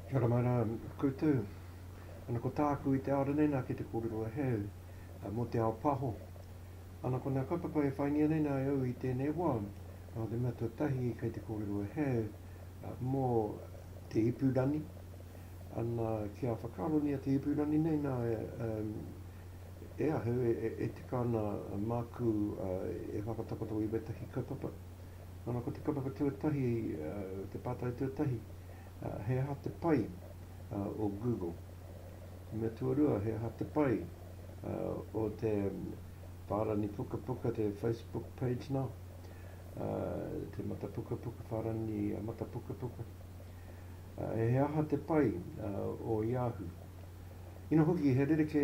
Kia ora mai rā koutou. Ana ko tāku i te ao ranei nā kei te kōrero e hē au mō te ao paho. Ana ko ngā kaupapa e whaingia nei nā e au i tēnei wā, nō te mea tuatahi kei te kōrero e hē au mō te ipurangi. Ana kia whakaarongia te ipurangi nei nā E ahu, e tika ana māku e whakatakoto i wētahi kaupapa. Nana, ko te kaupapa tuatahi, te pātai tuatahi, he aha te pai o Google? Te mea tuarua, he aha te pai o te whārani pukapuka, te Facebook page nā, te matapukapuka, whārani matapukapuka? He aha te pai o Yahoo? Ina hoki, he rerekē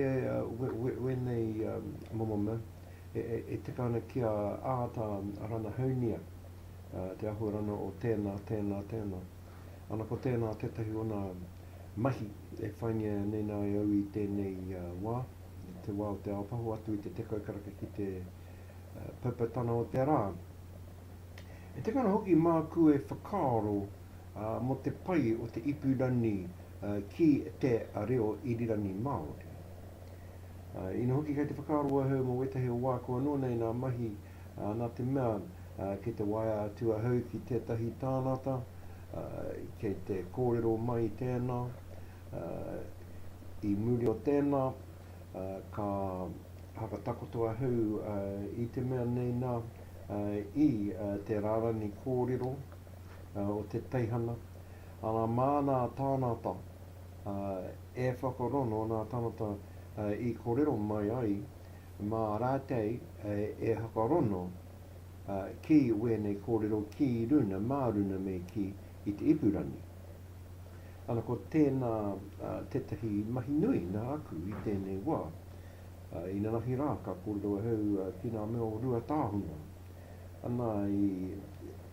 wēnei momo mea e tika ana kia āta ranahaunia te āhuarana o tēnā, tēnā, tēnā. Ana ko tēnā tētahi ona mahi e whaingia nei nā e au i tēnei wā, i te wā o te ao paho atu i te tekau karaka ki te paupau tana o te rā. E tika ana hoki māku e whakaaro, mō te pai o te ipurangi ki te reo irirangi Māori. Ina hoki kei te whakaaro ahau mō wētahi o wā kua noa nei nā mahi nā te mea kei te waea atu ahau ki tētahi tānata kei te kōrero mai tēnā i muri o tēnā ka whakatakoto ahau i te mea nei nā i te rārangi kōrero o te teihana, arā, māna tānata e whakarono, nā tānata i korero mai ai, mā rātei e hakarono ki wēnei kōrero ki runa, mā runa me kī, i te ipurangi. Ana ko tēnā tētahi mahi nui nā aku i tēnei wā. Inanahi rā, ka kōrero ahau ki ngā mea o Ruatāhuna. Ana i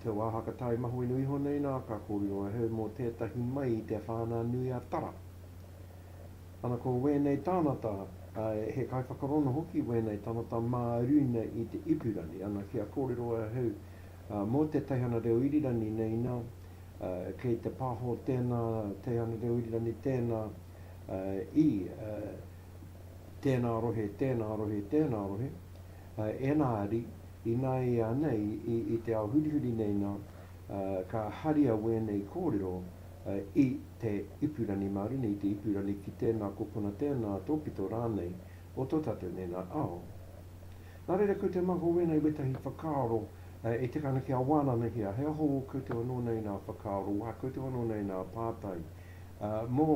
te wā whakatae mahuenui iho nei nā ka kōrero ahau mō tētahi mai i te Whānau-a-Tara. Ana ko wēnei tānata, āe, he kaiwhakarono hoki wēnei tānata mā runa i te ipurangi. Ana kia kōrero ahau mō te teihana reo irirangi nei nā, kei te pāho tēnā teihana reo irirangi tēnā i tēnā rohe, tēnā rohe, tēnā rohe, Ēngari, ināianei i te ao hurihuri nei nā, ka haria wēnei kōrero i te ipurangi Māori nei, i te ipurangi ki tēnā kōpuna, tēnā tōpito rānei o tō tātou nei nā ao. Nā reira, ko te maha o wēnei wētahi whakaaro e tika ana kia wānanahia, he aho koutou anō nei nā whakaaro, wā koutou anō nei nā pātai mō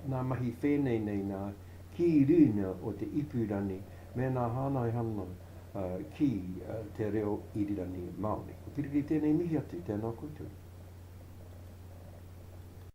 nā mahi whēnei nei nā, ki rīna o te Ipirani mēnā hānai ana ki te reo Irirani Māori. Ko Piripi tēnei mihi atu, tēnā koutou.